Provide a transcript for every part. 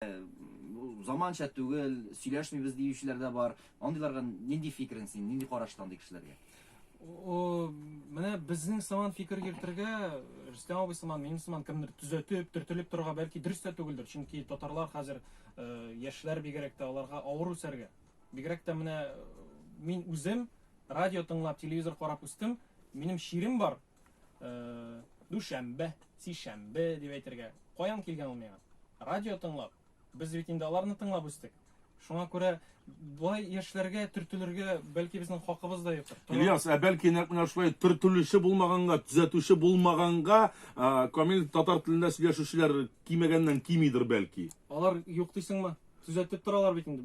Бу заманча түгел, сөйләшмибез диючеләр дә бар. Андыйларга нинди фикерең син, нинди карашта андый кешеләргә? О, менә безнең сыман фикер йөртергә, Рөстәм абый сыман, минем сыман кемдер төзәтеп, төртелеп торырга бәлки дөрес тә түгелдер, чөнки татарлар хәзер э, яшьләр бигрәк тә аларга авыр үсәргә. Бигрәк тә менә э, мин үзем радио тыңлап, телевизор карап үстем, минем чирем бар, дүшәмбе, сишәмбе дип әйтергә. Каян килгән ул миңа? Радио тыңлап. Без бит инде аларны тыңлап үстек. Шуңа күрә болай яшьләргә төртелергә бәлки безнең хакыбыз да юктыр. Ильяс, ә бәлки нәкъ менә шулай төртелүче булмаганга, төзәтүче булмаганга, камил татар телендә сөйләшүчеләр кимәгәннән кимидер бәлки. Алар юк дисеңме? Төзәтеп торалар бит инде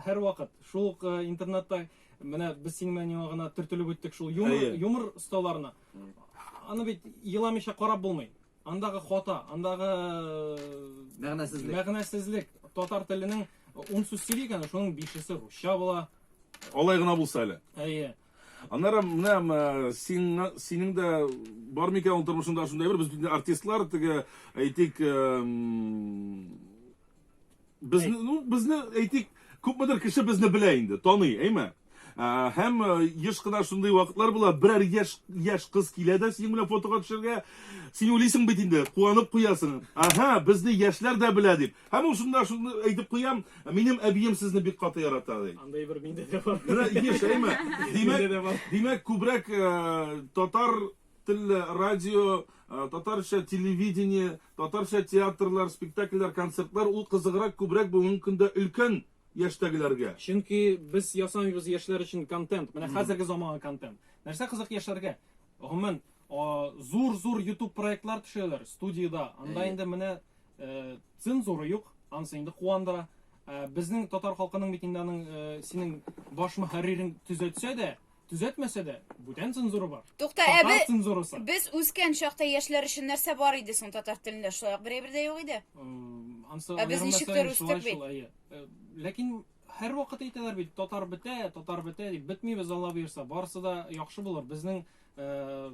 һәрвакыт. Шул ук интернетта Менә без синең белән яңа гына төртелеп үттек шул юмор, Әйе. юмор осталарына. Аны бит еламыйча карап булмый. Андагы хата, андагы Мәгънәсезлек. мәгънәсезлек. Татар теленең ун сүз сөйли икән, шуның бишесе русча була. Алай гына булса әле. Әйе. Аннары менә м, э, сиңа- синең дә бар микән ул тормышыңда шундый бер без бит инде артистлар теге әйтик э, м, Безне, ну, безне әйтик, күпмедер кеше безне белә инде, таный, әйме? Ә, һәм э, еш кына шундый вакытлар була, берәр яшь яшь кыз килә дә синең белән фотога төшергә. Син уйлыйсың бит инде, куанып куясың. Ага, безне яшьләр дә белә дип. Һәм ул шунда шуны әйтеп куям, минем әбием сезне бик каты ярата ди. Андай бер миндә дә бар. Менә еш, әйме? Миндә дә Димәк, бар. димәк күбрәк э, татар Телле радио, татарча телевидение, татарча театрлар, спектакльләр, концертлар ул кызыграк, күбрәк бүгенге көндә өлкән яшьтәгеләргә. Чөнки без ясамыйбыз яшьләр өчен контент. Менә хәзерге заманга контент. Нәрсә кызык яшьләргә? Гомумән, зур-зур YouTube проектлар төшәләр студиядә. Анда инде менә цензура юк, анысы инде куандыра. Безнең татар халкының бит инде аның синең баш мөхәррирең төзәтсә дә, Төзәтмәсә дә, бүтән цензура бар. Тукта, ә без цензурасы. Без үскән чакта яшьләр өчен нәрсә бар иде соң татар телендә? Шулай ук берәй бердә юк иде. Ансы ә без ничек тә үстек бит. Э, ләкин һәр вакыт әйтәләр бит, татар бетә, татар бетә дип бетмибез Алла бирса. Барысы да яхшы булыр. Безнең э,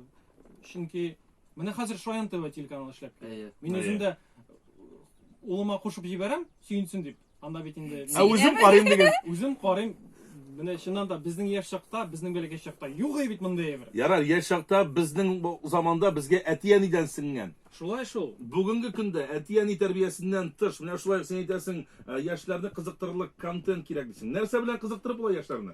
чөнки менә хәзер Шаян ТВ телеканалы эшләп. Мин үзем дә улыма кушып җибәрәм, сөенсен дип. Анда бит инде Ә үзем карыйм диген. үзем карыйм. Менә чыннан да безнең яшь чакта, безнең бәләкәй чакта юк иде бит мондый әйбер. Ярар, яшь чакта безнең бу заманда безгә әти-әнидән сеңгән. Шулай шул. Бүгенге көндә әти-әни тәрбиясеннән тыш, менә шулай ук син әйтәсең, э, яшьләрне кызыктырырлык контент кирәк дисең. Нәрсә белән кызыктырып була яшьләрне?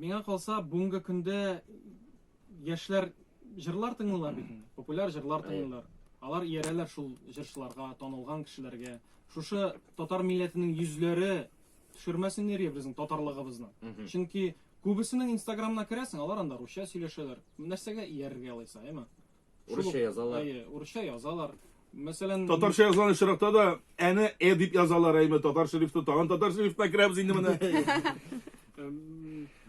Миңа калса, бүгенге көндә яшьләр җырлар тыңлыйлар бит инде. Популяр җырлар тыңлыйлар. Алар иярәләр шул җырчыларга, танылган кешеләргә. Шушы татар милләтенең йөзләре төшермәсен ире безнең татарлыгыбызны. Чөнки күбесенең Инстаграмына керәсең, алар анда русча сөйләшәләр. Нәрсәгә иярергә алайса, әйме? Урысча язалар. Әйе, урысча язалар. Мәсәлән, татарча язган очракта да әне э дип язалар, әйме татар шрифты, тагын татар шрифтына керәбез инде менә.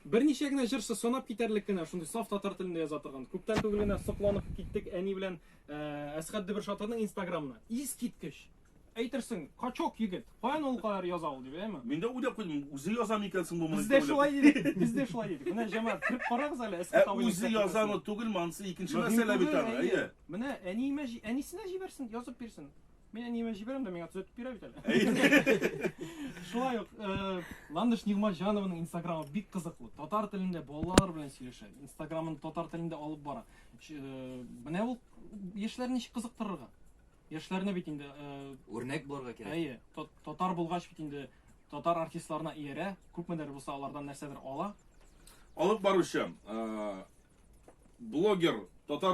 Берничә генә җырчы санап китәрлек кенә шундый саф татар телендә яза торган. Күптән түгел генә сокланып киттек әни белән Әсхәт Дебер Шатырның Инстаграмына. Искиткеч! Әйтерсең, качок егет. Каян ул кадәр яза ул дип, әйме? Мин дә уйлап куйдым, үзе яза микән соң бу моны? Без дә шулай дидек, без дә шулай дидек. Менә җәмәгать кереп карагыз әле, эскә табыйм. Ә үзе язамы, түгелме, анысы икенче мәсьәлә бит аны, әйе. Менә әниемә, әнисенә җибәрсен, язып бирсен. Мин әниемә җибәрәм дә, миңа төзәтеп бирә бит әле. Шулай ук, э, Ландыш Нигъматҗанованың инстаграмы бик кызыклы. Татар телендә балалар белән сөйләшә. Инстаграмын татар телендә алып бара. Э, менә ул яшьләрне ничек кызыктырырга? яшьләрне бит инде үрнәк э, булырга кирәк. Әйе, татар булгач бит инде татар артистларына иярә, күпмедер булса алардан нәрсәдер ала. Алып баручы, э, блогер, татар